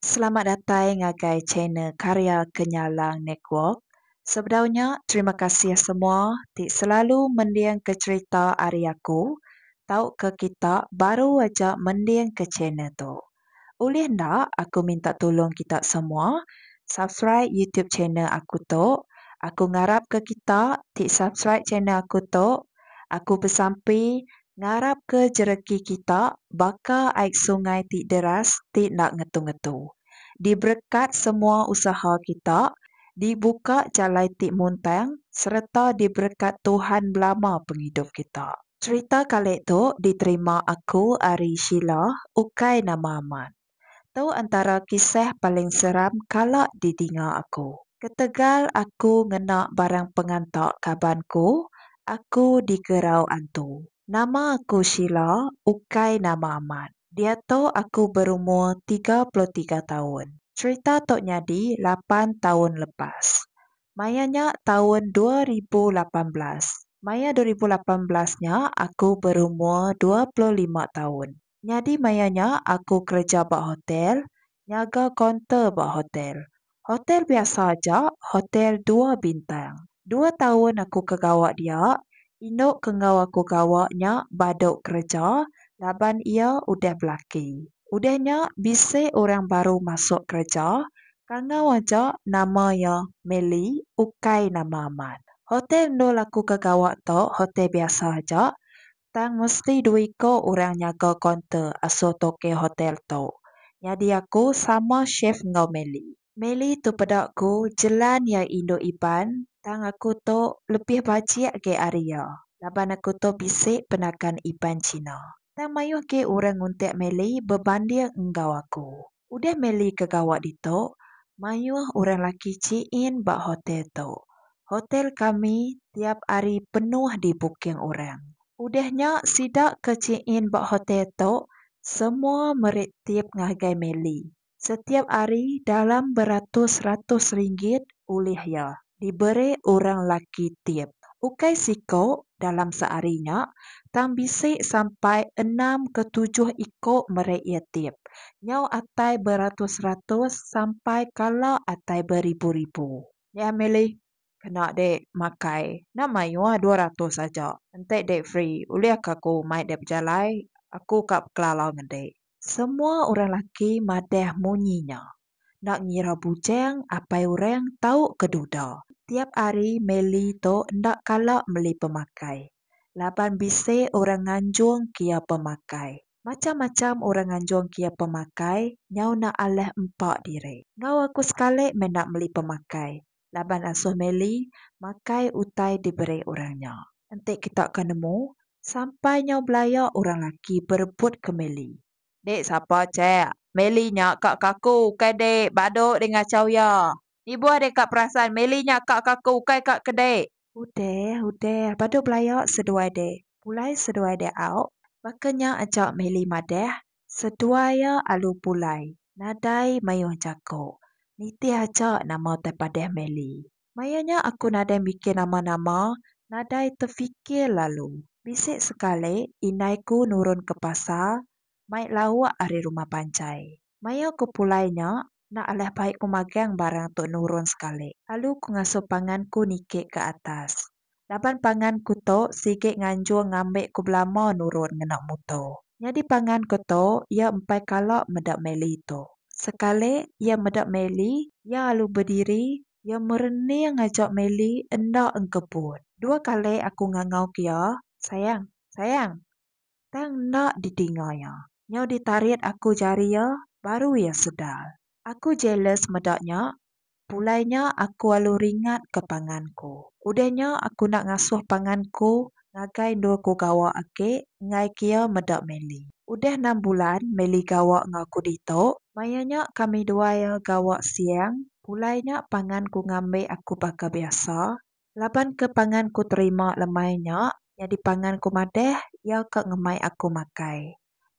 Selamat datai ngagai channel Karya Kenyalang Network. Sebedau nya, terima kasih semua ti selalu mendingka cherita ari aku tauka kita baru aja mendingka channel tu. Ulih enda aku minta tulung kita semua subscribe YouTube channel aku tu. Aku ngarapka kita ti subscribe channel aku tu Aku besampi ngarapka jereki kita baka ai sungai ti deras ti enda ngetu-ngetu. Diberekat semua usaha kita, dibuka jalai ti muntang sereta diberekat Tuhan belama pengidup kita. Cherita kali tu diterima aku ari Sheila ukai nama amat. Tu antara kisah paling seram kala didinga aku. Ketegal aku ngena barang penganta kaban ku, aku digerau antu. Nama aku Sheila, ukai nama amat. Diatu aku berumur tiga puluh tiga taun. Cherita tu nyadi lapan taun lepas. Maya nya taun dua ribu lapan belas. Maya dua ribu lapan belas nya aku berumur dua puluh lima taun. Nyadi maya nya aku kereja ba hotel, nyaga kaunter ba hotel. Hotel biasa aja, hotel dua bintang. Dua taun aku ke gawa dia, indu ke enggau aku gawa nya badu kereja laban iya udah belaki. Udah nya bisi orang baru masuk kereja, kangau aja nama iya Melly ukai nama amat. Hotel endur aku ke gawa tu hotel biasa aja, Tang mesti dua iko orang nyaga kaunter asuh toke hotel tu. Nyadi aku sama chef enggau Melly. Melly tu peda ku jelan iya indu Iban tang aku tu lebih bajik agi ari iya laban aku tu bisi penakan Iban Cina. Tang mayuh gi orang nguntik Melly bebanding enggau aku. Udah Melly ke gawa ditu, mayuh orang laki chiin ba hotel tu. Hotel kami tiap hari penuh di booking orang. Udah nya sida ke chiin ba hotel tu semua meri tip ngagai Melly setiap hari dalam beratus-ratus ringgit ulih iya. diberi orang laki tip ukai siku dalam sehari nya tang bisi sampai enam ke tujuh iku meri iya tip nyau atai beratus-ratus sampai kala atai beribu-ribu. Nya milih kena dek makai enda mayuh dua ratus aja enti dek free ulih ka aku mai dek bejalai aku ka bekelalau ngan dek. Semua orang laki madah munyi nya. Enda ngira bujang apai orang tau ke duda. Tiap ari Meli tu enda kala meli pemakai. Laban bisi orang nganjung kia pemakai. Macam-macam orang nganjung kia pemakai nyau enda alah empa diri. Enggau aku sekali meh enda meli pemakai laban asuh Meli makai utai diberi orang nya. Enti kita ke nemu, sampai nyau belaya orang laki berebut ke Meli. Dek sapa chek. Meli nya ka kaku ukai dek badu dek ngachau iya. Ibuh dek ka perasan meli nya ka kaku ukai ka ke dek. Udah udah badu belaya seduai dek. Pulai seduai dek auk. Baka nya aja meli madah seduai iya alu pulai nadai mayuh jaku. Nitih aja nama tai padah meli. Maya nya aku nadai mikir nama-nama, nadai tefikir lalu. Bisi sekali indai ku nurun ke pasar mai lauk ari rumah panjai. Maya ku pulai nya, enda alah bai ku magang barang tu nurun sekali. Lalu ku ngasuh pangan ku niki ke atas. Laban pangan ku tu sigi nganjung ngambi ku belama nurun ngena muto. Nyadi pangan ku tu iya empai kala meda Meli tu. Sekali iya meda Meli, iya alu bediri, iya merening aja Meli enda engkebut. Dua kali aku ngangau ke iya, Sayang, sayang. Tang enda didinga iya. Nyau ditarit aku jari iya, baru iya sedar. Aku jealous meda nya. Pulai nya aku alu ringat ke pangan ku. Udah nya aku enda ngasuh pangan ku ngagai endur ku gawa agi enggai ke iya meda Melly. Udah enam bulan Melly gawa enggau aku ditu. Maya nya kami dua iya gawa siang. Pulai nya pangan ku ngambi aku baka biasa. Laban ke pangan ku terima lemai nya nyadi pangan ku madah iya ka ngemai aku makai.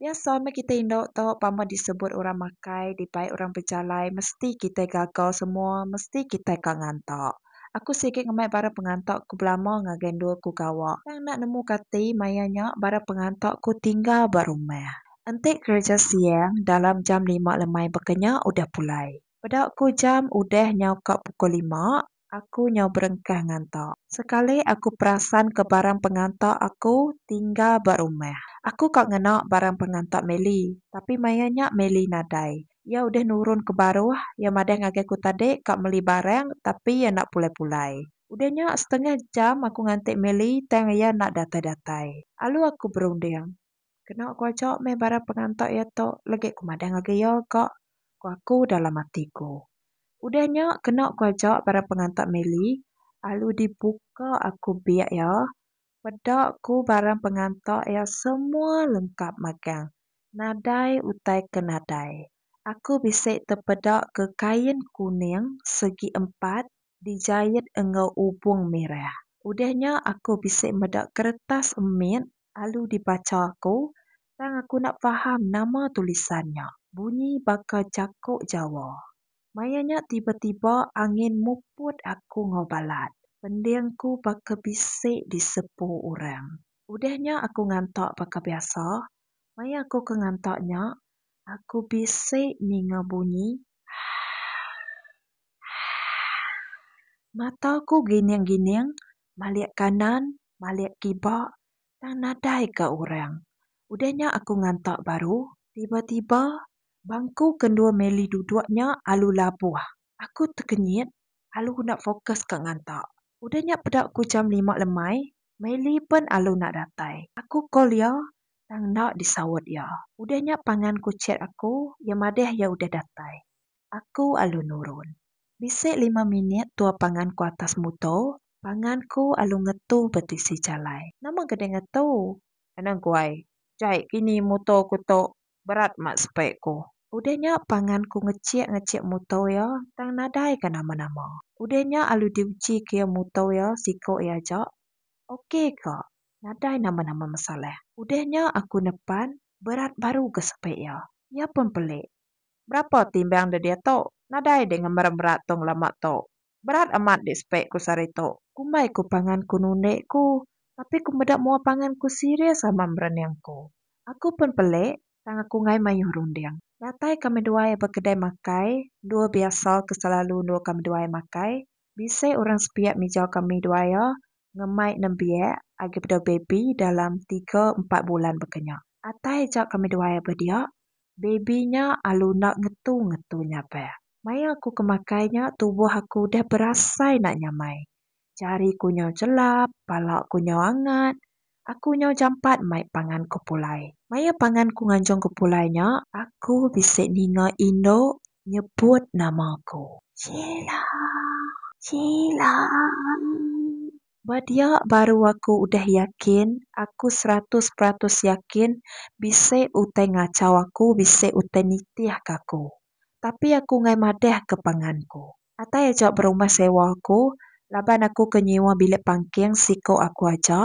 Biasa meh kitai indu tu pama disebut orang makai dibai orang bejalai mesti kitai gaga semua mesti kitai ka nganta. Aku sigi ngemai barang penganta ku belama ngagai endur ku gawa tang enda nemu kati maya nya barang penganta ku tinggal ba rumah. Enti kereja siang dalam jam lima lemai baka nya udah pulai. Peda ku jam udah nyau ka pukul lima aku nyau berengkah nganta. Sekali aku perasan ke barang penganta aku tinggal ba rumah. Aku ka ngena barang penganta Meli, tapi maya nya Meli nadai. Iya udah nurun ke baruh, iya madah ngagai aku tadi ka meli barang tapi iya enda pulai-pulai. Udah nya setengah jam aku nganti Meli tang iya enda datai-datai. Alu aku berunding, Keno ku ajo meh bala penganto iya to legek ku madang agi iyo ga ku aku dalam ati ku. Udah nyo keno ku ajo bala penganto mili alu di buka aku biak iyo peda ku bala penganto iyo semua lengkap magang nadai utai ke nadai. Aku bisi tepeda ke kain kuning segi empat dijait enggau ubung mirah. Udah nya aku bisi meda keretas mit lalu dibacha aku tang aku enda faham nama tulisan nya. Bunyi baka jako Jawa. Maya nya tiba-tiba angin muput aku enggau balat. Pending ku baka bisi disepu orang. Udah nya aku ngantak baka biasa. Maya aku ke ngantak nya, Aku bisi ninga bunyi haaaaaa. Mata aku gining-gining malik kanan malik kiba tang nadai ka orang. Udah nya aku ngantak baru tiba-tiba bangku ke endur Meli duduk nya alu labuh. Aku tekenyit alu enda fokus ka ngantak. Udah nya peda ku jam lima lemai Meli pen alu enda datai. Aku call iya Tang enda disaut iya. Udah nya pangan ku chat aku, iya madah iya udah datai. Aku alu nurun. Bisi lima minit tua pangan ku atas muto, pangan ku alu ngetu ba tisi jalai. Nama gede ngetu? Kena guai. Jai kini muto ku tu berat mat sepe ku. Udah nya pangan ku ngechik-ngechik muto iya tang nadai ka nama-nama. Udah nya alu diuji ke iya muto iya siko iya aja. Ok ka. Nadai nama-nama masalah. Udah nya aku nepan berat baru ke sepi iya. Iya pun pelik. Berapa timbang deh dia tu? Nadai deh ngemer berat tong lama tu. Berat amat deh sepi ku sehari tu. Kumbai ku pangan ku nundik ku tapi ku meda mua pangan ku serius amat merening ku. Aku pun pelik tang aku ngai mayuh runding. Datai kami duai ba kedai makai endur biasa ke selalu endur kami duai makai. Bisi orang sepiak mijau kami duaya ngemai nembiak agi bedau baby dalam tiga empat bulan baka nya. Atai aja kami duaya ba dia, baby nya alu enda ngetu-ngetu nyabak. Maya aku ke makai nya tubuh aku udah berasai enda nyamai. Jari ku nyau chelap, pala ku nyau angat, Aku nyau jampat mai pangan ku pulai. Maya pangan ku nganjung ku pulai nya. Aku bisi ninga indu nyebut nama ku. Sheila. Sheila. Ba dia baru aku udah yakin, aku seratus peratus yakin bisi utai ngachau aku, bisi utai nitihka aku. Tapi aku enggai madahka pangan ku. Atai aja berumah sewa aku, laban aku ke nyewa bilik pangking siko aku aja,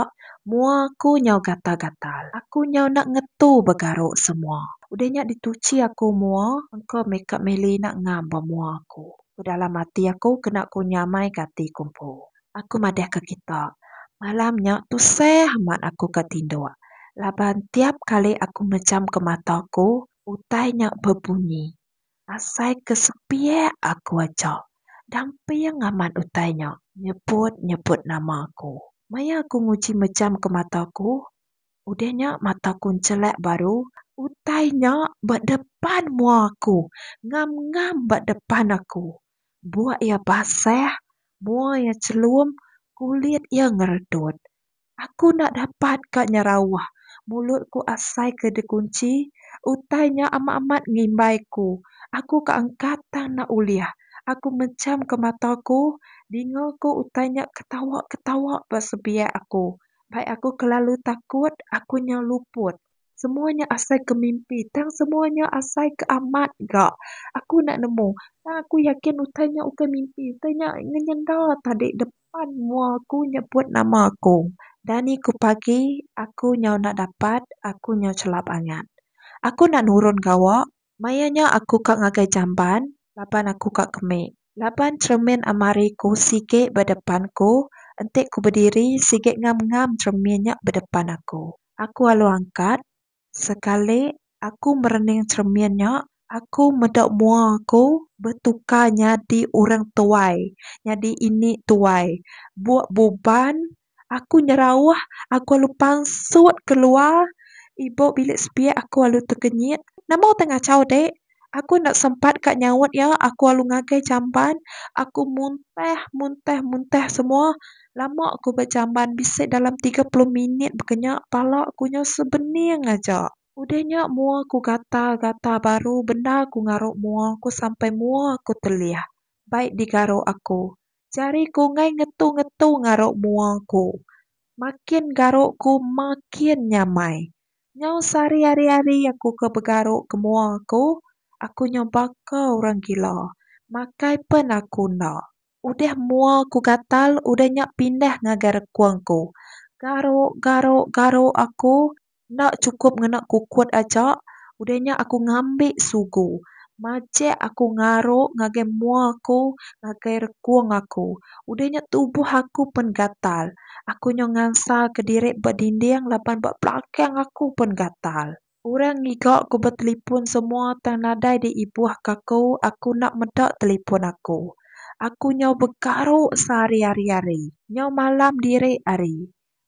mua aku nyau gatal-gatal. Aku nyau enda ngetu begaruk semua. Udah nya dituchi aku mua engka meh ka mili enda ngam ba mua aku. Ku dalam ati aku kena ku nyamai ka ati ku empu. Aku madah ka kita. Malam nya tusah amat aku ka tinduk, laban tiap kali aku mejam ka mata aku, utai nya bebunyi. Asai ke sepiak aku aja damping amat utai nya nyebut-nyebut nama aku. Maya aku nguji mejam ke mata aku, udah nya mata aku nchelak baru utai nya ba depan mua aku, ngam-ngam ba depan aku. Buk iya basah, mua iya chelum, kulit iya ngeredut. Aku enda dapat ka nyerauh, mulut ku asai ke dikunchi, utai nya amat-amat ngimbai ku. Aku ka angkat tang enda ulih. Aku mejam ke mata ku, dinga ku utai nya ketawa-ketawa ba sebiak aku. Bai aku kelalu takut, aku nyau luput. Semua nya asai ke mimpi tang semua nya asai ke amat ga. Aku enda nemu tang aku yakin utai nya ukai mimpi. Utai nya ngenyenda tadi depan mua aku nyebut nama aku. Dani ku pagi aku nyau enda dapat aku nyau chelap angat. Aku enda nurun gawa. Maya nya aku ka ngagai jamban laban aku ka kemi. Laban cheremin amari ku sigi ba depan ku enti ku bediri sigi ngam-ngam cheremin nya ba depan aku. Aku alu angkat. Sekali aku merening cheremin nya aku meda mua aku betukar nyadi orang tuai, nyadi ini tuai. Buk buban Aku nyerauh, aku alu pansut keluar ibu bilik sepiak aku alu tekenyit. Nama utai ngachau dek? Aku enda sempat ka nyaut iya, aku alu ngagai jamban. Aku muntah, muntah, muntah semua. Lama aku ba jamban, bisi dalam tiga puluh minit baka nya. Pala aku nyau sebening aja. Udah nya mua aku gatal, gatal baru bendar aku ngaru mua aku sampai mua aku telih. Bai digaru aku. Jari ku enggai ngetu-ngetu ngaruk mua ku. Makin garuk ku makin nyamai. Nyau sehari hari-hari aku ke begaruk ke mua aku, aku nyau baka orang gila. Makai pen aku enda. Udah mua ku gatal, udah nya pindah ngagai rekung ku. Garuk, garuk, garuk aku. Enda chukup ngena kukut aja, udah nya aku ngambi sugu. Majek aku ngaru ngagai mua aku, ngagai rekung aku. Udah nya tubuh aku pen gatal. Aku nyau ngansaka diri ba dinding laban ba belakang aku pen gatal. Orang ngiga aku betelipun semua tang nadai diibuhka aku, aku enda meda telipun aku. Aku nyau begaru sehari ari hari. Nyau malam diri ari.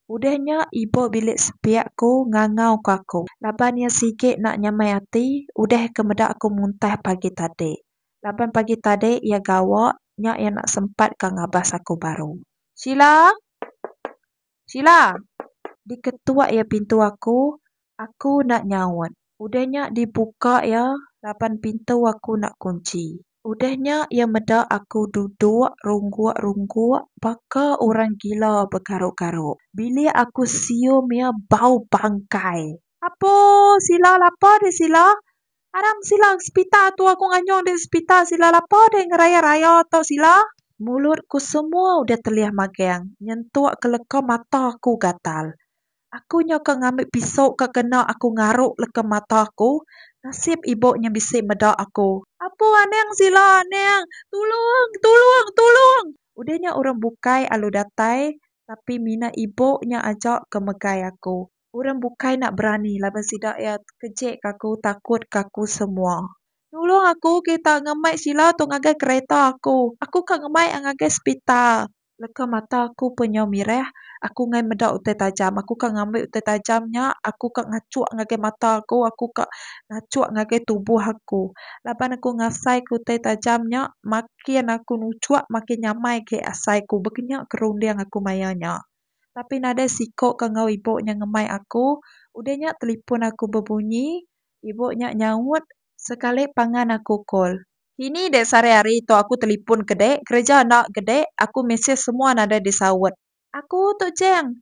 Udah nya ibuh bilik sepiak aku ngangau ko aku laban iya sigi enda nyamai ati udah ke meda aku muntah pagi tadi laban pagi tadi iya gawa nya iya enda sempat ka ngabas aku baru. Sheila! Sheila! Diketuk iya pintu aku Aku enda nyaut. Udah nya dibuka iya laban pintu aku enda kunchi. Udah nya iya meda aku duduk rungguk-rungguk baka orang gila begaruk-garuk. Bilik aku sium iya bau bangkai. Apo sila lapa deh sila. Aram sila ke sepital tu aku nganyung deh sepital sila lapa deh ngeraya-raya tu sila. Mulut ku semua udah telih magang nyentuk ke leka mata aku gatal. Aku nyau ke ngambi piso ke kena aku ngaruk leka mata aku. Nasib ibu nya bisi meda aku. Apo anang sila anang. Tulung tulung tulung. Udah nya orang bukai alu datai tapi mina ibu nya aja ke megai aku. Orang bukai enda berani laban sida iya kejek ke aku takut ke aku semua. Nulung aku kita ngemai sila tu ngagai kereta aku. Aku ka ngemai a ngagai sepital. Leka mata aku pa nyau mireh, aku ngai meda utai tajam. Aku ka ngambi utai tajam nya, aku ka ngachuk ngagai mata aku, aku ka ngachuk ngagai tubuh aku. Laban aku ngasaika utai tajam nya, makin aku nuchuk makin nyamai agi asai aku. Baka nya ke runding aku maya nya. Tapi nadai siko ke enggau ibu nya ngemai aku. Udah nya telefon aku bebunyi. Ibu nya nyaut. Sekali pangan aku call. Ini dek sare ari tu aku telepon ke dek kereja enda ke dek aku mesej semua nadai di saut. Aku tu jang.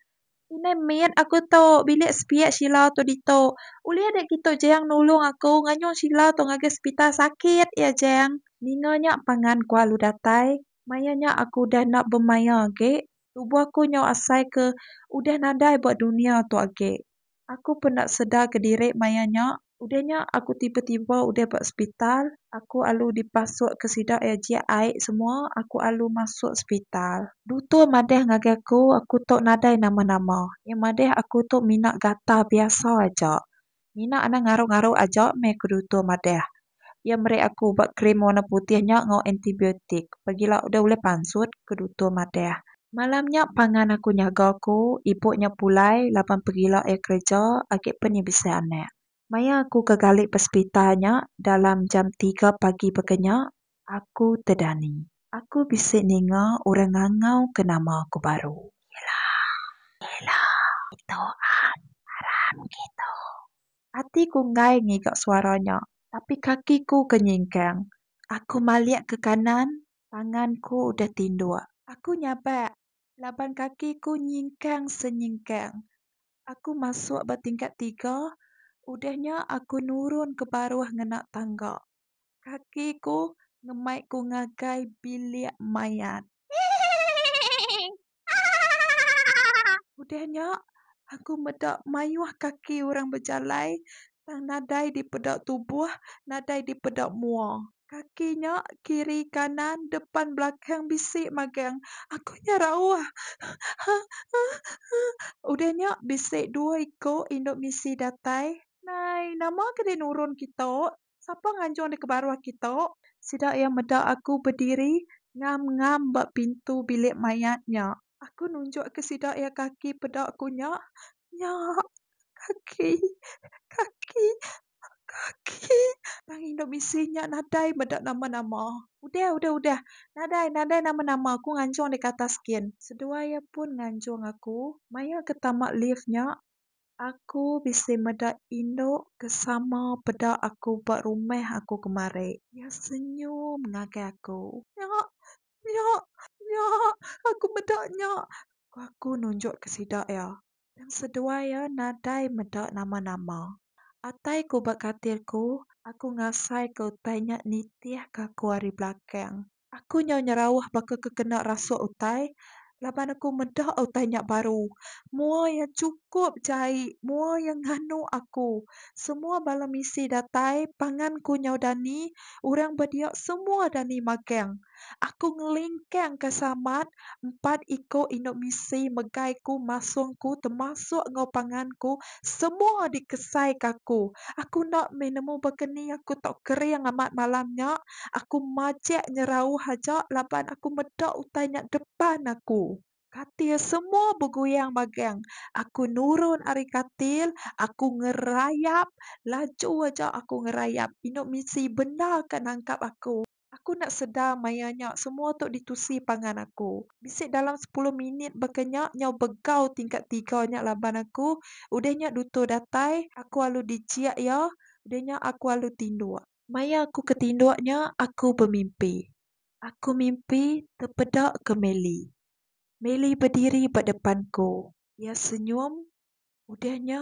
Inai mit aku tu bilik sepiak Sheila tu ditu. Ulih dek kitu jang nulung aku nganyung Sheila tu ngagai sepital sakit ya jang. Ninga nya pangan kualu datai. Maya nya aku udah enda bemaya agek. Tubuh aku nyau asai ke udah nadai ba dunya tu agi. Aku pun enda sedar kediri maya nya. Udah nya aku tiba-tiba udah ba sepital. Aku alu dipasuk ke sida iya jik ai semua aku alu masuk sepital. Dutur madah ngagai aku, aku tu nadai nama-nama. Iya madah aku tu mina gatal biasa aja. Mina anang ngaru-ngaru aja meh ku dutur madah. Iya meri aku ubat krim warna putih nya enggau antibiotik. Pagila udah ulih pansut, ku dutur madah. Malam nya pangan aku nyaga ku ibu nya pulai laban pagila iya kereja agi pen iya bisi anak. Maya aku ke gali ba sepital nya dalam jam tiga pagi baka nya, Aku tedani. Aku bisi ninga orang ngangau ke nama aku baru. Ella. Ella. Itu am. Aram gitu. Ati ku enggai ngiga suara nya, tapi kaki ku ke nyingkang. Aku malik ke kanan, pangan ku udah tinduk. Aku nyabak laban kaki ku nyingkang senyingkang. Aku masuk ba tingkat tiga, udah nya aku nurun ke baruh ngena tangga. Kaki ku ngemai ku ngagai bilik mayat. Udah nya aku meda mayuh kaki orang bejalai tang nadai dipeda tubuh nadai dipeda mua. Kaki nya kiri kanan depan belakang bisi magang. Aku nya rauh. Udah nya bisi dua iku indu misi datai. Nai, nama ke deh nurun kitok? Sapa nganjung deka baruh aki tu? Sida iya meda aku bediri ngam-ngam ba pintu bilik mayat nya. Aku nunjukka sida iya kaki peda ku nya. Nya, kaki, kaki, kaki. Tang indu bisi nya nadai meda nama-nama. Udah, udah, udah. Nadai, nadai nama-nama. Aku nganjung deka atas gin. Seduai iya pun nganjung aku maya ke tama lift nya. Aku bisi meda indu ke sama peda aku ba rumah aku kemari. Iya senyum ngagai aku. Nya, nya, nya, aku meda nya, ku aku nunjuk ke sida iya. Tang seduai iya nadai meda nama-nama. Atai ku ba katil ku, aku ngasai ke utai nya nitih ke aku ari belakang. Aku nyau nyerauh baka ke kena rasuk utai laban aku meda utai nya baru. Mua iya chukup jai, mua iya nganu aku. Semua bala misi datai, pangan ku nyau dani, orang ba dia semua dani magang. Aku ngelingkangka samat empat iko indu misi megai ku masung ku temasuk enggau pangan ku semua dikesai ka aku aku enda mih nemu baka ni aku tau kering amat malam nya aku majek nyerauh aja laban aku meda utai nya depan aku. Katil semua beguyang bagang aku nurun ari katil aku ngerayap laju aja aku ngerayap indu misi bendar ka nangkap aku. Aku enda sedar maya nya semua tu ditusi pangan aku. Bisi dalam sepuluh minit baka nya nyau begau tingkat tiga nya laban aku. Udah nya dutur datai, aku alu dijiak iya, udah nya aku alu tinduk. Maya aku ke tinduk nya aku bemimpi. Aku mimpi tepeda ke Meli. Meli bediri ba depan ku. Iya senyum, udah nya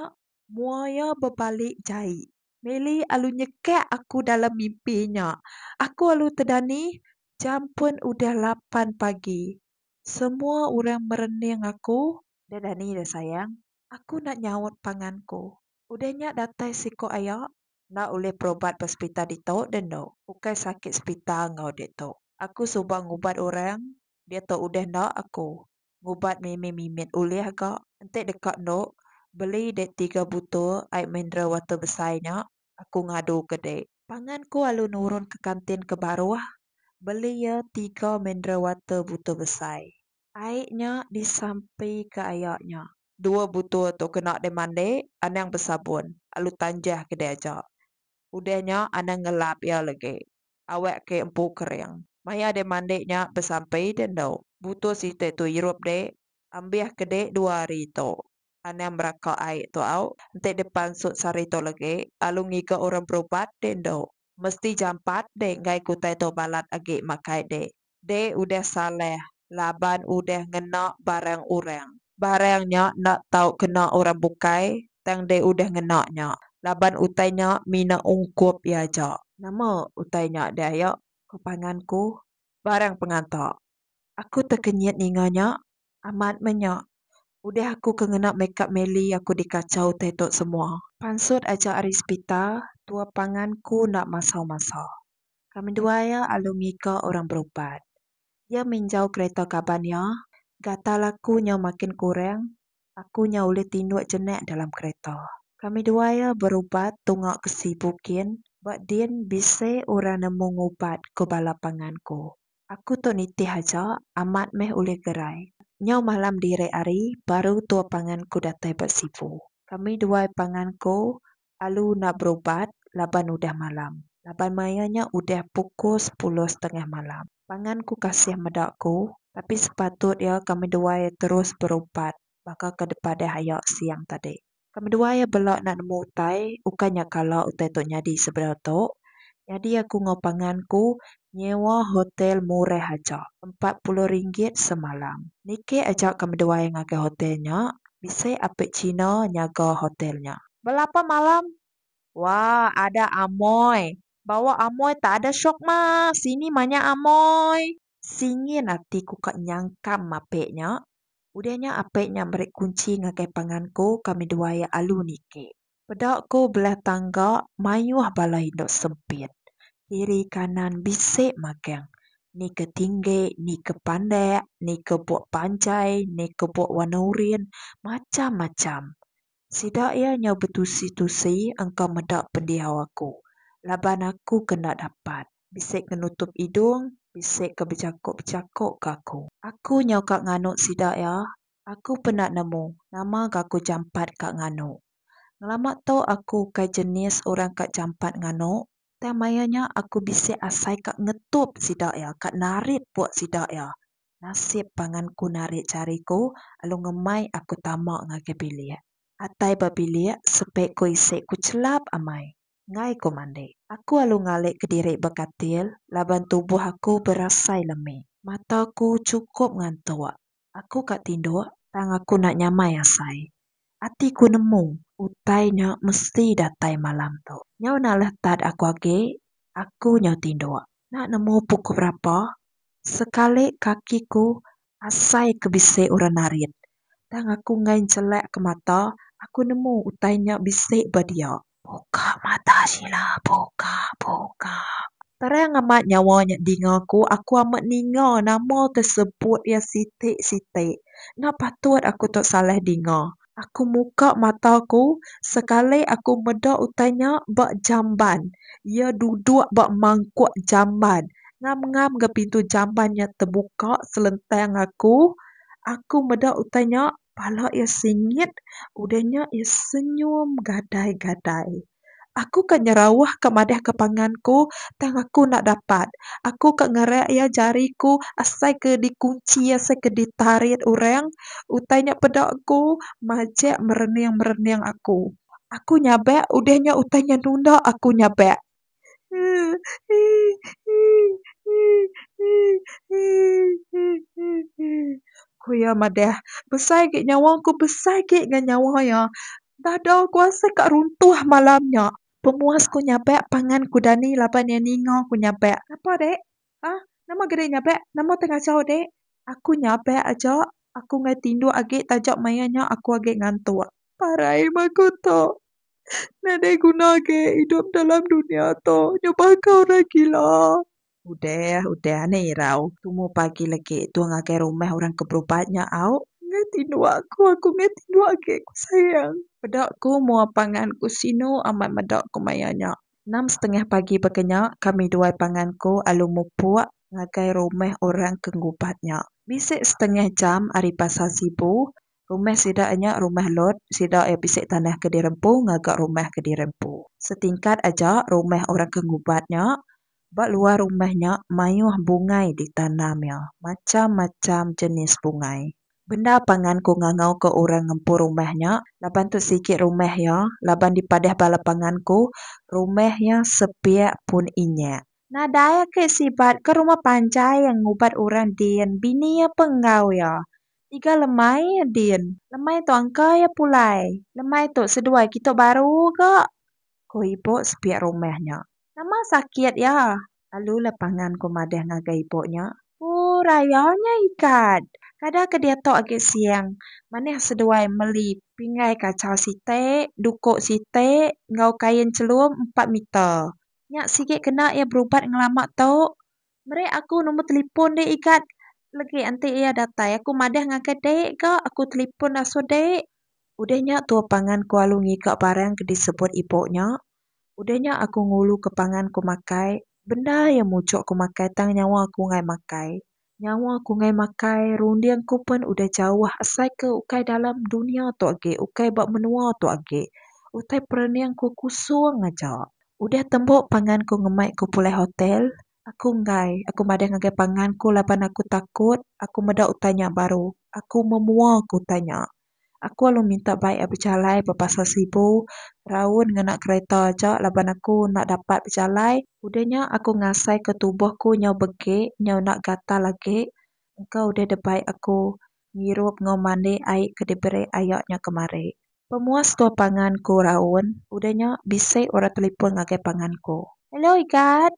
mua iya bebalik jai. Meli alu nyekak aku dalam mimpi nya. Aku alu tedani jam pun udah lapan pagi. Semua orang merening aku. Dah dani dah sayang. Aku enda nyaut pangan ku. Udah nya datai siko aya. Enda ulih perobat ba sepital ditu dah endo. Ukai sakit sepital enggau ditu. Aku suba ngubat orang. Diatu udah enda aku. ngubat mimi mimit ulih ga enti deka endo beli dek tiga butul ai mineral water besai nya aku ngadu ke dek. Pangan ku alu nurun ke kantin ke baruh beli ya tiga mineral water butul besai. Ai nya disampi ke aya nya. Dua butul tu kena dek mandi anang besabun alu tanjah ke dek aja udah nya anang ngelap ya legi. awak ke empu kering. Maya deh mandi nya besampi deh endo. Butuh siti tu irup deh. Ambih ke deh dua hari tu. Anang meraka ai tu au. Enti deh pansut sehari tu legi. Lalu ngiga orang berubat deh endo. Mesti jampat deh enggai kutai tu balat agi makai deh. Deh udah salah laban udah ngena barang orang. Barang nya enda tau kena orang bukai tang deh udah ngena nya laban utai nya mina ungkup iya aja. Nama utai nya deh aya? Ko pangan ku. Barang penganta. Aku tekenyit ninga nya Amat meh nya. Udah aku ke ngena makeup Melly aku dikachau utai tu semua. Pansut aja ari sepita, tua pangan ku enda masau masa. Ka menduai iya alu ngiga orang berubat. Iya minjau kereta kaban iya, gatal aku nya makin kurang, aku nya ulih tinduk jenak dalam kereta. Kami dua iya berubat tunga ke sibu kin ba din bisi orang nemu ngubat ku bala pangan ku. Aku tu nitih aja, amat meh ulih gerai. Nyau malam diri ari, baru tua pangan ku datai ba Sibu. Kami duai pangan ku alu enda berubat laban udah malam. Laban maya nya udah pukul sepuluh setengah malam. Pangan ku kasih meda ku, tapi sepatut iya kami duai terus berubat baka ke dipadah aya siang tadi. Ke medua iya bela enda nemu utai, ukai nya kala utai tu nyadi sebedau tu, nyadi aku enggau pangan ku nyewa hotel murah aja, empat puluh ringgit semalam. Niki aja ke medua iya ngagai hotel nya, bisi ape Cina nyaga hotel nya. Belapa malam? Wah, ada amoy. Bawa amoy tak ada syok mah, sini manya amoy. Singin ati ku ka nyangkam apek nya. Udah nya apek nya meri kunchi ngagai pangan ku ka midua iya alu niki. Peda ku belah tangga mayuh bala indu sempit. Kiri kanan bisi magang. Ni ke tinggi, ni ke pandak, ni ke buk panjai, ni ke buk warna urin, macham-macham. Sida iya nyau betusi-tusi engka meda pendiau aku laban aku ke enda dapat, bisi ke nutup idung, bisi ke bejako-bejako ke aku. Aku nyau ka nganu sida iya, aku peda nemu nama ga aku jampat ka nganu. Ngelama tu aku ukai jenis orang ka jampat nganu, tang maya nya aku bisi asai ka ngetup sida iya, ka narit pok sida iya Nasib pangan ku narit jari ku alu ngemai aku tama ngagai bilik. Atai ba bilik sepe ku isi ku chelap amai. Ngai ku mandi. Aku alu ngalik ke diri ba katil laban tubuh aku berasai lemi. Mata ku chukup ngantuk. Aku ka tinduk. Tang aku nak nyamai asai. Ati ku nemu utai nya mesti datai malam tu. Nyau enda leh tad aku agi aku nyau tinduk. Enda nemu pukul berapa sekali kaki ku asai ke bisi orang narit. Tang aku enggai njelak ke mata aku nemu utai nya bisi ba dia. Buka mata sila buka buka. Terang amat nyawa nya dinga ku aku amat ninga nama ke sebut iya siti siti enda patut aku tu salah dinga. Aku muka mata ku sekali aku meda utai nya ba jamban iya duduk ba mangkuk jamban ngam ngam ga pintu jamban nya tebuka selentang aku aku meda utai nya Pala iya singit, udah nya iya senyum gadai-gadai. Aku ka nyerawah ka madah ka pangan ku, tang aku enda dapat. Aku ka ngerak iya jari ku asai ke dikunchi, asai ke ditarit orang. Utai nya peda ku majak merening-merening aku. Aku nyabak, udah nya utai nya nunda aku nyabak. Ku iya madah, Besai agi nyawa ku, besai agi ngan nyawa iya. Dada ku asai ka runtuh malam nya. Pemuas ku nyabak pangan ku dani laban iya ninga ku nyabak. Napa, Dek? Hah? Nama ga deh nyabek? Nama teh ngajau deh? Aku nyabek aja, aku ngai tinduk agi taja maya nya aku agi ngantuk. Parai meh aku tu. Enda deh guna agi idup dalam dunya tu nyubah ka orang gila. Udah, udah anih irau. Tumu pagi lagi tu ngagai rumah orang ke berubat nya au. Ngai tinduk aku, aku ngai tinduk agi ku sayang. Peda ku mua pangan ku sinu amat meda ku maya nya. Enam setengah pagi baka nya kami duai pangan ku alu mupuk ngagai rumah orang ke ngubat nya. Bisi setengah jam ari Pasar Sibu, rumah sida nya rumah lot sida iya bisi tanah ke dirempu ngaga rumah ke dirempu. Setingkat aja rumah orang ke ngubat nya, ba luar rumah nya mayuh bungai ditanam iya, macham-macham jenis bungai. Bendar pangan ku ngangau ka orang ngempu rumah nya laban tu sigi rumah iya laban dipadah bala pangan ku rumah iya sepiak pun inyak. Nadai agi sibat ka rumah panjai iya ngubat orang din bini iya pun enggau iya tiga lemai iya din lemai tu angka iya pulai lemai tu seduai kitok baru ga ku ibu sepiak rumah nya nama sakit iya. Lalu la pangan ku madah ngagai ibu nya. Ku raya nya ikat. Kada ke diatu agi siang. Manah seduai meli pinggai kacau siti, duku siti enggau kain chelum empat meter. Nya sigi kena iya berubat ngelama tu. Meri aku nombor telefon dek ikat legi enti iya datai. Aku madah ngagai dek ga aku telefon asu dek. Udah nya tua pangan ku alu ngiga barang ke disebut ibu nya. Udah nya aku ngulu ke pangan ku makai bendar iya muchok ku makai tang nyawa aku ngai makai. Nyawa aku ngai makai runding ku pun udah jauh asai ke ukai dalam dunia tu agi ukai ba menua tu agi utai perening ku kusong aja. Udah tembu pangan ku ngemai ku pulai hotel aku enggai aku madah ngagai pangan ku laban aku takut aku meda utai nya baru aku memua ku utai nya. Aku alu minta baik ai bejalai ba Pasar Sibu raun ngena kereta aja laban aku enda dapat bejalai. Udah nya aku ngasaika tubuh aku nyau begek nyau enda gatal agi. Engka udah dibai aku ngirup enggau mandi ai ke diberi aya nya kemari. Pemuas tua pangan ku raun. Udah nya bisi orang telefon ngagai pangan ku. Hello Igat.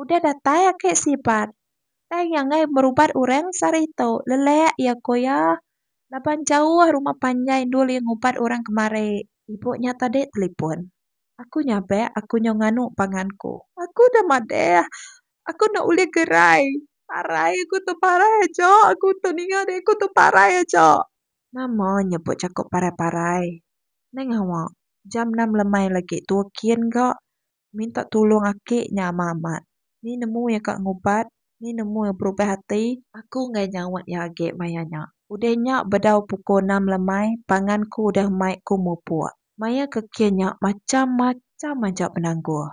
Udah datai aki sibat. Tang iya enggai merubat orang sehari tu. Lelak iya ko iya. Laban jauh rumah panjai endul iya ngubat orang kemari. Ibu nya tadi telipon. Aku nyabak aku nyau nganu pangan ku. Aku udah madah. Aku enda ulih gerai. Parai aku tu parai aja. Aku tu ninga diri aku tu parai aja. Nama nyebut jaku parai-parai. Neng awak. Jam enam lemai lagi tua kin ga. minta tulung aki nya amat amat ni nemu iya ka ngubat ni nemu iya berubah ati. Aku enggai nyaut iya agi maya nya. Udah nya bedau pukul enam lemai pangan ku udah mai ku mupuk. Maya ke kia nya macham macham aja penanggul.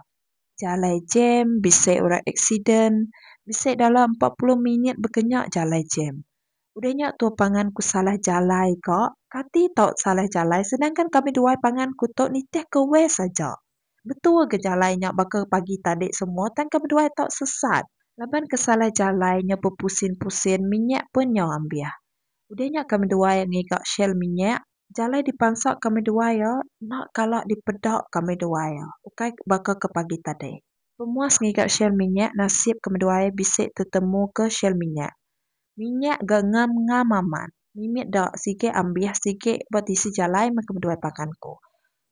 Jalai jam bisi orang aksiden bisi dalam empat puluh minit bekenya jalai jam. Udah nya tu pangan ku salah jalai ka kati tau salah jalai sedangkan kami duai pangan ku tu nitih ke west aja. Betul ke jalai nya baka pagi tadi semua tang ke beduai tau sesat. Laban ke salah jalai nya bepusin-pusin minyak pun nyau ambih. Udah nya kami duai ngiga shell minyak, jalai dipansa kami duai iya enda kala dipeda kami duai iya ukai baka ke pagi tadi. Pemuas ngiga shell minyak nasib kami duai bisi tetemuka shell minyak. Minyak ga ngam ngam amat. Mimit da sigi ambih sigi ba tisi jalai mega beduai pangan ku.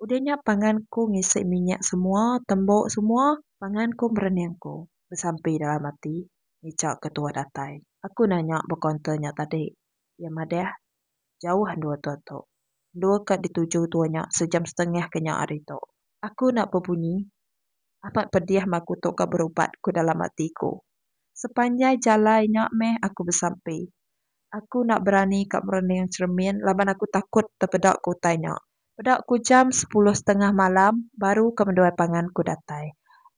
Udah nya pangan ku ngisi minyak semua tembu semua pangan ku berening ku besampi dalam ati ngichau ke tuah datai. Aku nanya ba kaunter nya tadi. Iya madah Jauh endur tua tu. Endur ka dituju tua nya sejam setengah ke nya hari tu. Aku enda bebunyi. Amat pedih meh aku tu ka berubat ku dalam ati aku. Sepanjai jalai nya meh aku besampi. Aku enda berani ka merening cheremin laban aku takut tepeda ke utai nya. Peda ku jam sepuluh setengah malam baru ka meduai pangan ku datai.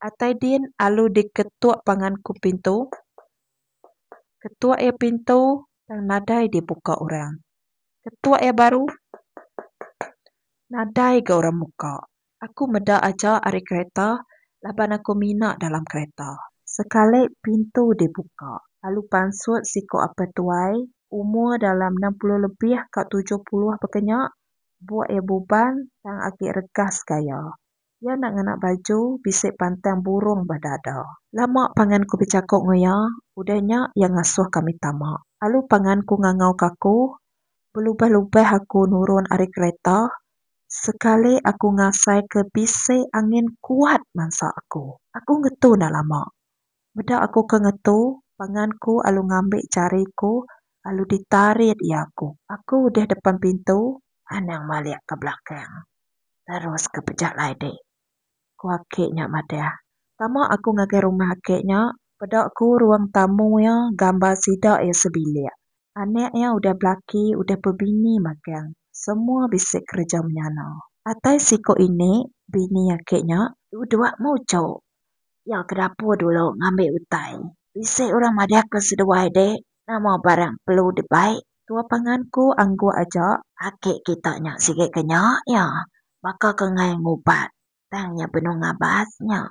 Atai din alu diketuk pangan ku pintu. Ketuak iya pintu tang nadai dibuka orang. Ketuak iya baru nadai ga orang muka. Aku meda aja ari kereta laban aku mina dalam kereta. Sekali pintu dibuka lalu pansut siku apai tuai umur dalam enam puluh lebih ka tujuh puluh baka nya buk iya buban tang agi regas gaya. Iya enda ngena baju, bisi pantang burung ba dada. Lama pangan ku bejaku enggau iya, udah nya iya ngasuh kami tama. Lalu pangan ku ngangau ka aku, belubah-lubah aku nurun ari kereta, sekali aku ngasai ke bisi angin kuat mansa aku. Aku ngetu enda lama, Meda aku ke ngetu, pangan ku alu ngambi jari ku alu ditarit iya aku. Aku udah depan pintu, anang malik ke belakang terus ke pejalai dek. Ku aki nya madah. Tama aku ngagai rumah aki nya, peda ku ruang tamu iya gambar sida iya sebilik. Anak iya udah belaki udah bebini magang. Semua bisi kereja menyana. Atai siku ini, bini aki nya, dua-dua mujok Iya ke dapur dulu ngambi utai. Bisi orang madah ke seduai dek nama barang perlu di bai. Tua pangan ku angguk aja. Laki kita nya sigi ke nya iya baka ke ngai ngubat tang iya benung ngabas nya.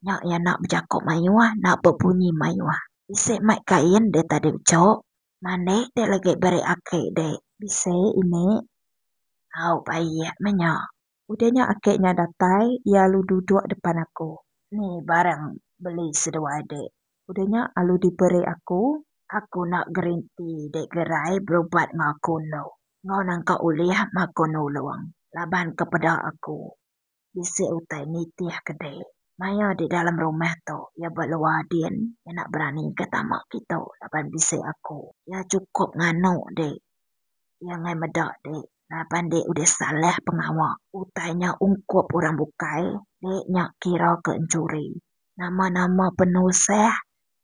Nya iya enda bejako mayuh enda bebunyi mayuh. Bisi mai kain dek tadi bejok. Mandik dek lagi beri aki dek. Bisi ini. Au baik meh nya. Udah nya aki nya datai iya alu duduk depan aku. Ni barang beli seduai dek. Udah nya alu diberi aku. Aku enda gerinti dek gerai berubat enggau aku endo enggau nangka ulih mako nulong laban ke peda aku bisi utai nitih ke dek maya di dalam rumah tu iya ba luar din iya enda berani ke tama kitu laban bisi aku. Iya cukup nganu dek. Iya angai meda dek. laban dek udah salah pengawa. Utai nya ungkup orang bukai dek nya kira ke enchuri. Nama nama penusah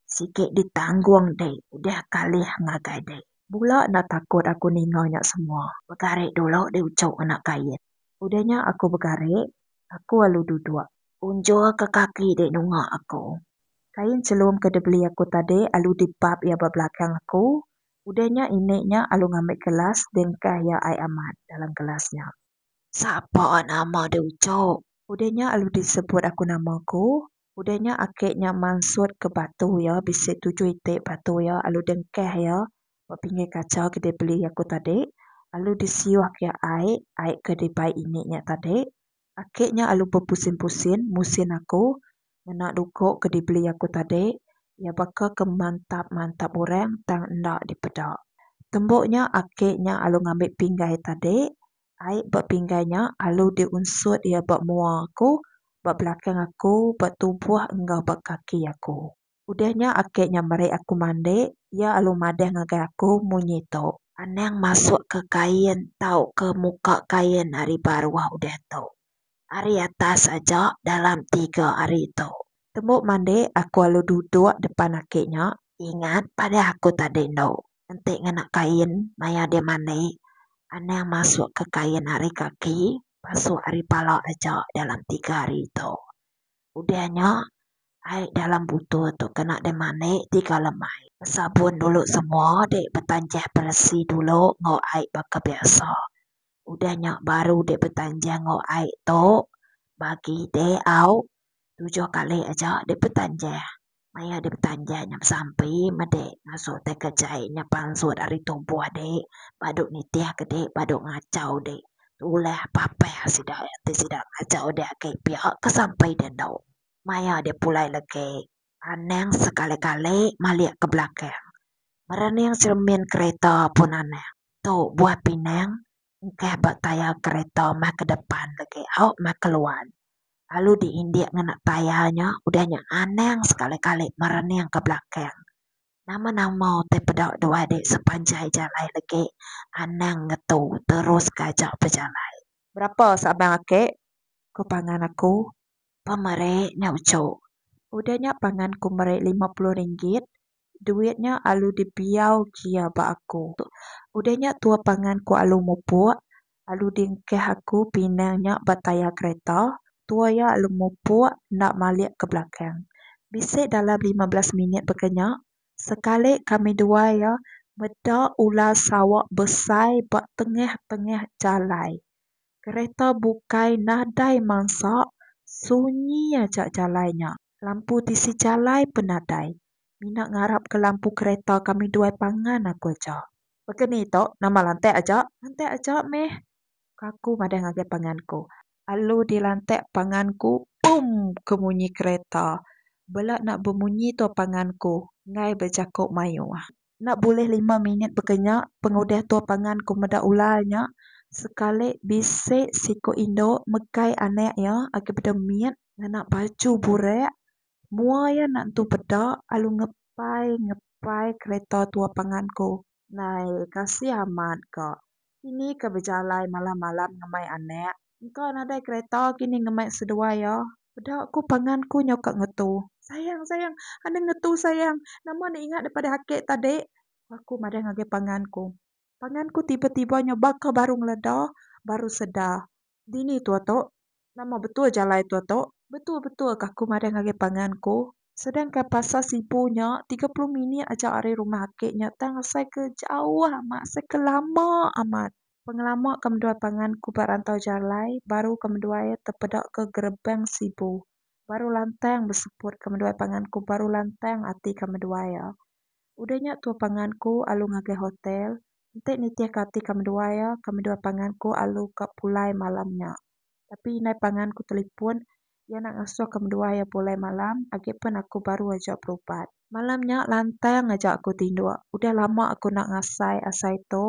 sike ditanggung dek udah kalih ngagai dek. Bula enda takut aku ninga nya semua. Begari dulu dek uchu anak Kait. Udah nya aku begari, aku alu duduk. Unjur ke kaki dek nunga aku. Kain chelum ke dibeli aku tadi alu dibap iya ba belakang aku Udah nya inek nya alu ngambi kelas bengkah iya ai amat dalam kelas nya. Sapa nama deh ucok. Udah nya alu disebut aku nama ku. Udah nya ake nya mansut ke batu iya bisi tujuh itik batu iya alu dengkah iya ba pinggir kaca ke dibeli aku tadi. Alu disiuh ke iya ai, ai ke dibai inek nya tadi. Aki nya alu bepusin-pusin musin aku ngena duko ke dibeli aku tadi, iya baka ke mantap-mantap orang tang enda dipeda. Tembu nya aki nya alu ngambi pinggai tadi, ai ba pinggai nya alu diunsut iya ba mua aku, ba belakang aku, ba tubuh enggau ba kaki aku. Udah nya ake nya meri aku mandi iya alu madah ngagai aku munyi tu. Anang masuk ke kain tau ke muka kain ari baruh udah tu. Ari atas aja dalam tiga ari tu. Tembu mandi aku alu duduk depan ake nya. Ingat padah aku tadi endo. Enti ngena kain maya dia mandi anang masuk ke kain ari kaki pasuk ari pala aja dalam tiga ari tu. Udah nya, ai dalam butul tu kena dimanik tiga lemai. Besabun dulu semua dik betanjah beresi dulu enggau ai baka biasa. Udah nya baru dik betanjah enggau ai tu bagi dik au tujuh kali aja dik betanjah. maya dep betanjai nyam sampi mede ngasuh tai kejai nyam pansut ari tubuh de badu nitih ke de badu ngachau de tulah papah sida ti sida ngachau de agi pia ke sampi de endo maya dep pulai legi anang sekali kali malik ke belakang merening cermin kereta pun anang tu buah pinang engkah ba tayar kereta meh ke depan legi au meh ke luan lalu di indik ngena tayar nya udah nya anang sekali kali merening ke belakang nama nama utai peda dua adik sepanjai jalai legi anang ngetu terus kaja bejalai. Berapa sabang ake ko pangan aku pemeri nya uchu udah nya pangan ku meri lima puluh ringgit duit nya alu dibiau gia ba aku. Udah nya tua pangan ku alu mupuk, alu diengkah aku pinang nya ba tayar kereta, tua iya alu mupuk enda malik ke belakang. Bisi dalam lima belas minit baka nya, sekali kami dua iya meda ular sawa besai ba tengah-tengah jalai. Kereta bukai nadai mansa, sunyi aja jalai nya. Lampu tisi jalai pen nadai. Mina ngarap ke lampu kereta kami duai pangan aku aja. Baka ni tu nama lantak aja? Lantak aja meh ka aku madah ngagai pangan ku. Alu dilantak pangan ku pum ke munyi kereta. Bela nak bemunyi tu pangan ku enggai bejako mayuh. Enda bulih lima minit baka nya pengudah tua pangan ku meda ular nya sekali bisi siku indu megai anak iya agi peda mit ngena baju burak mua iya enda tentu peda lalu ngepai ngepai kereta tua pangan ku. Nai kasih amat ka. Kini ke bejalai malam-malam ngemai anak. Engka nadai kereta kini ngemai seduai iya. Peda ku pangan ku nyau ka ngetu. Sayang, sayang. Enda ngetu sayang. Nama enda ingat daripada ake tadi? Ku aku madah ngagai pangan ku. Pangan ku tiba-tiba nyau baka baru ngeleda, baru sedar. Dini tua tu? Nama betul jalai tua tu? Betul betul ka aku madah ngagai pangan ku. Sedang ka pasar sibu nya tiga puluh minit aja ari rumah ake nya tang asai ke jauh amat asai ke lama amat. Pengelama ka menduai pangan ku ba rantau jalai baru ka menduai iya tepeda ke gerbang sibu. Baru lantang beseput ka menduai pangan ku baru lantang ati ka menduai iya. Udah nya tua pangan ku alu ngagai hotel, enti nitih ka ati ka menua iya, ka menua pangan ku alu ka pulai malam nya. Tapi indai pangan ku telepon iya enda ngasuh ka menua iya pulai malam agi pun aku baru aja berubat. Malam nya lantang aja aku tinduk, udah lama aku enda ngasai asai tu.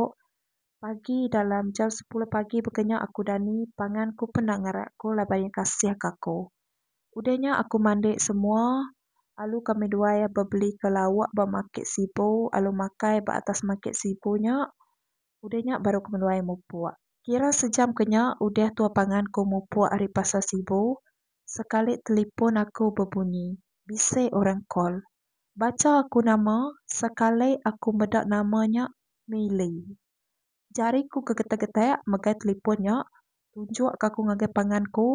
Pagi dalam jam sepuluh pagi baka nya aku dani, pangan ku pun enda ngarak ku laban iya kasih ka aku. Udah nya aku mandi semua, Alu kami dua iya bebelika lauk ba makit Sibu alu makai ba atas makit Sibu nya. Udah nya baru kami dua iya mupuk. Kira sejam ke nya udah tua pangan ku mupuk ari pasar Sibu, sekali telipon aku bebunyi. Bisi orang call. Bacha aku nama, sekali aku meda nama nya Milly. Jari ku ke getek-getek megai telefon nya tunjuk ka ku ngagai pangan ku,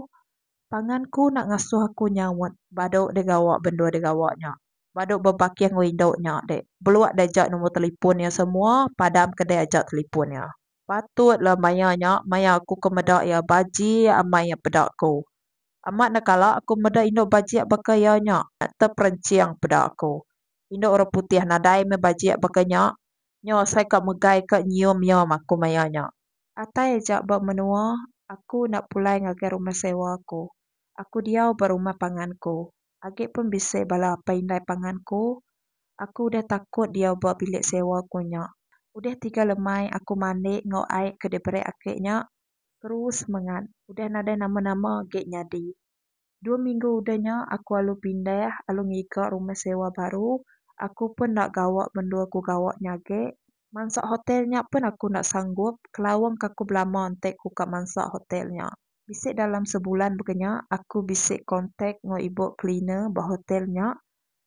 pangan ku enda ngasuh aku nyaut badu deh gawa bendu deh gawa nya badu bebaking window nya deh belua deh aja nombor telefon iya semua padam ke deh aja telefon iya. Patutlah maya nya maya aku ke meda iya bajik amai iya peda ku. Amat enda kala aku meda indu bajik baka iya nya, terperenching peda aku. Indu orang putih nadai meh bajik baka nya. Nya asai ka megai ka nyium iya maku maya nya. Atai aja ba menua aku enda pulai ngagai rumah sewa aku. Aku diau ba rumah pangan ku. Agi pun bisi bala apai indai pangan ku. Aku udah takut diau ba bilik sewa ku nya. Udah tiga lemai aku mandi enggau ai ke diberi aki nya. Terus semengat. Udah nadai nama-nama agek nyadi. Dua minggu udah nya aku alu pindah, alu ngiga rumah sewa baru. Aku pun enda gawa mendur ku gawa nya agek. Mansa hotel nya pun aku enda sanggup, kelawang ka ku belama enti ku ka mansa hotel nya. Bisi dalam sebulan baka nya aku bisi kontak enggau ibu cleaner ba hotel nya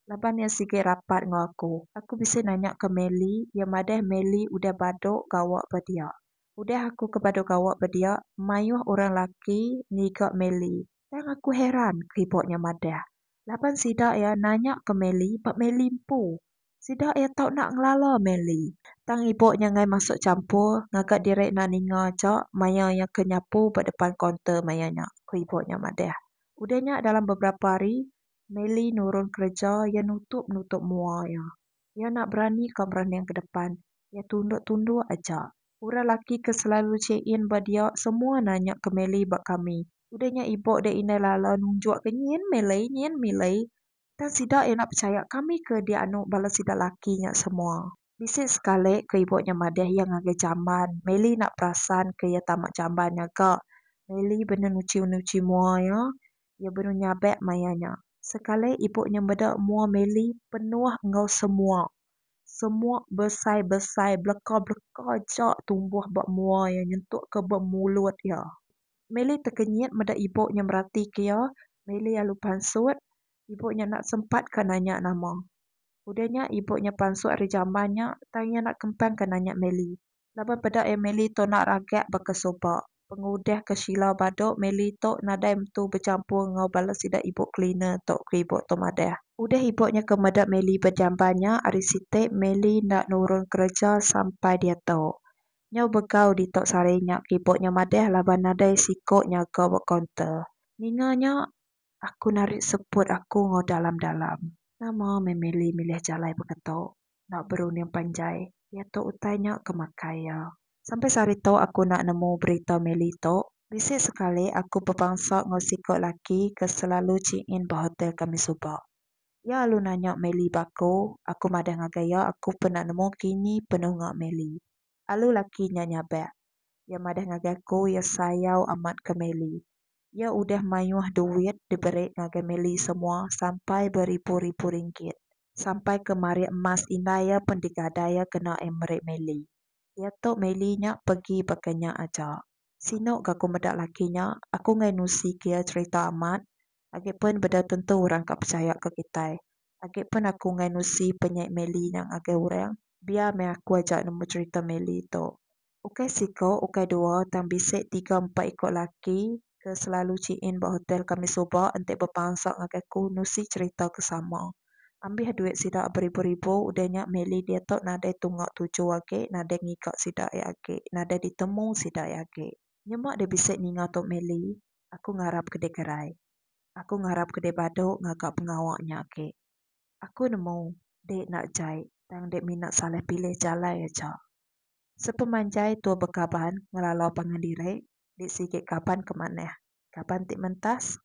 laban iya sigi rapat enggau aku. Aku bisi nanya ka Melly, iya madah Melly udah badu gawa ba dia. Udah aku ke badu gawa ba dia, mayuh orang laki ngiga Melly. Tang aku heran ke ibu nya madah laban sida iya nanya ke Melly ba Melly empu. Sida iya tau enda ngelala Melly. Tang ibu nya enggai masuk champur ngaga diri enda ninga aja maya iya ke nyapu ba depan kaunter maya nya, ku ibu nya madah. Udah nya dalam beberapa hari, Melly nurun kereja iya nutup-nutup mua iya. Iya enda berani ka berunding ke depan. Iya tunduk-tunduk aja. Orang laki ke selalu check in ba dia semua nanya ke Melly ba kami. Udah nya ibu dek indai lala nunjuk ke nyin Melly nyin Melly. Tang sida enda pechaya kami ke dianu bala sida laki nya semua. Bisi sekali ke ibu nya madah iya ngagai jamban. Melly enda perasan ke iya tama jamban nya ga. Melly benda nuchi-nuchi mua iya. Iya benung nyabak maya nya. Sekali ibup nya meda mua Meli penuh enggau semuk. Semuk besai-besai beleka-beleka aja tumbuh ba mua iya nyentuk ke ba mulut iya. Meli tekenyit meda ibup nya meratika iya. Meli lalu pansut. Ibup nya enda sempat ka nanya nama. Udah nya ibup nya pansut ari jamban nya tang iya enda kempang ka nanya Meli. Laban peda iya Meli tu enda ragak baka suba. Pengudah ke Sheila badu, Meli tu nadai empu bechampur enggau bala sida ibu cleaner tu, ku ibu tu madah. Udah ibu nya ke meda Meli bejamban nya ari siti, Meli enda nurun kereja sampai diatu. Nyau begau ditu sehari nya, ku ibu nya madah laban nadai siku nyaga ba kaunter. Ninga nya, Aku narit seput aku enggau dalam-dalam. Nama meh meli milih jalai beketo enda berunding panjai diato utai nya ke makai iya. Sampai sehari to aku enda nemu berita meli to. Bisi sekali aku bebangsa enggau siko laki ke selalu chiin ba hotel kami suba. Iya alu nanya meli ba aku, aku madah ngagai iya aku pun enda nemu kini penuh enggau meli. Alu laki nya nyabak. Iya madah ngagai aku iya sayau amat ke Meli. Iya udah mayuh duit diberi ngagai Meli semua sampai beribu-ribu ringgit. Sampai ke marik emas indai iya pun digadai iya kena ai meri Meli. Iya tu Meli nya pegi baka nya aja. Sinu ga ku meda laki nya, aku enggai nusi ke iya cherita amat. Agi pen beda tentu orang ka pechaya ke kitai. Agi pen aku ngai nusi penyai Melly nya ngagai orang, biar meh aku aja nemu cherita Melly tu. Ukai siko, ukai dua tang bisi tiga empat iko laki ke selalu check in ba hotel kami suba enti bepansa ngagai aku nusi cherita ke sama. Ambih duit sida beribu-ribu udah nya Melly diatu nadai tunga tuju agi, nadai ngiga sida ia agi, nadai ditemu sida ia agi. Nyema deh bisi ninga tu Melly. Aku ngarap ke deh kerai. Aku ngarap ke deh badu ngaga pengawa nya agi. Aku nemu deh enda jai tang deh mina salah pilih jalai aja. Sepemanjai tua bekaban ngelala pangan diri, deh sigi kaban ke manah, kaban ti mentas.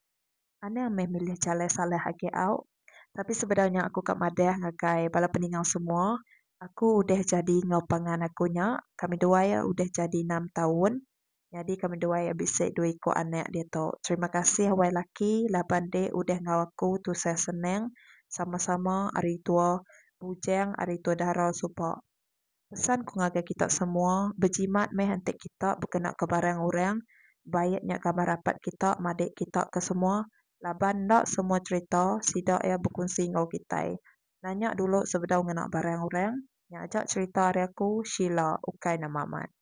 Anang meh milih jalai salah agi au. Tapi sebedau nya aku ka madah ngagai bala peningau semua, aku udah jadi enggau pangan aku nya kami duai udah jadi enam taun. nyadi ke menduai a bisi dua iku anak diatu. Terima kasih wai laki laban deh udah enggau aku tusah senang sama sama ari tua bujang ari tua dara suba. Pesan ku ngagai kita semua bejimat meh enti kita bekena ke barang orang baik nya gambar rapat kita madik kita ke semua laban enda semua cerita sida iya bekunsi enggau kitai. Nanya dulu sebedau ngena barang orang. Nya aja cerita ari aku Sheila ukai nama amat.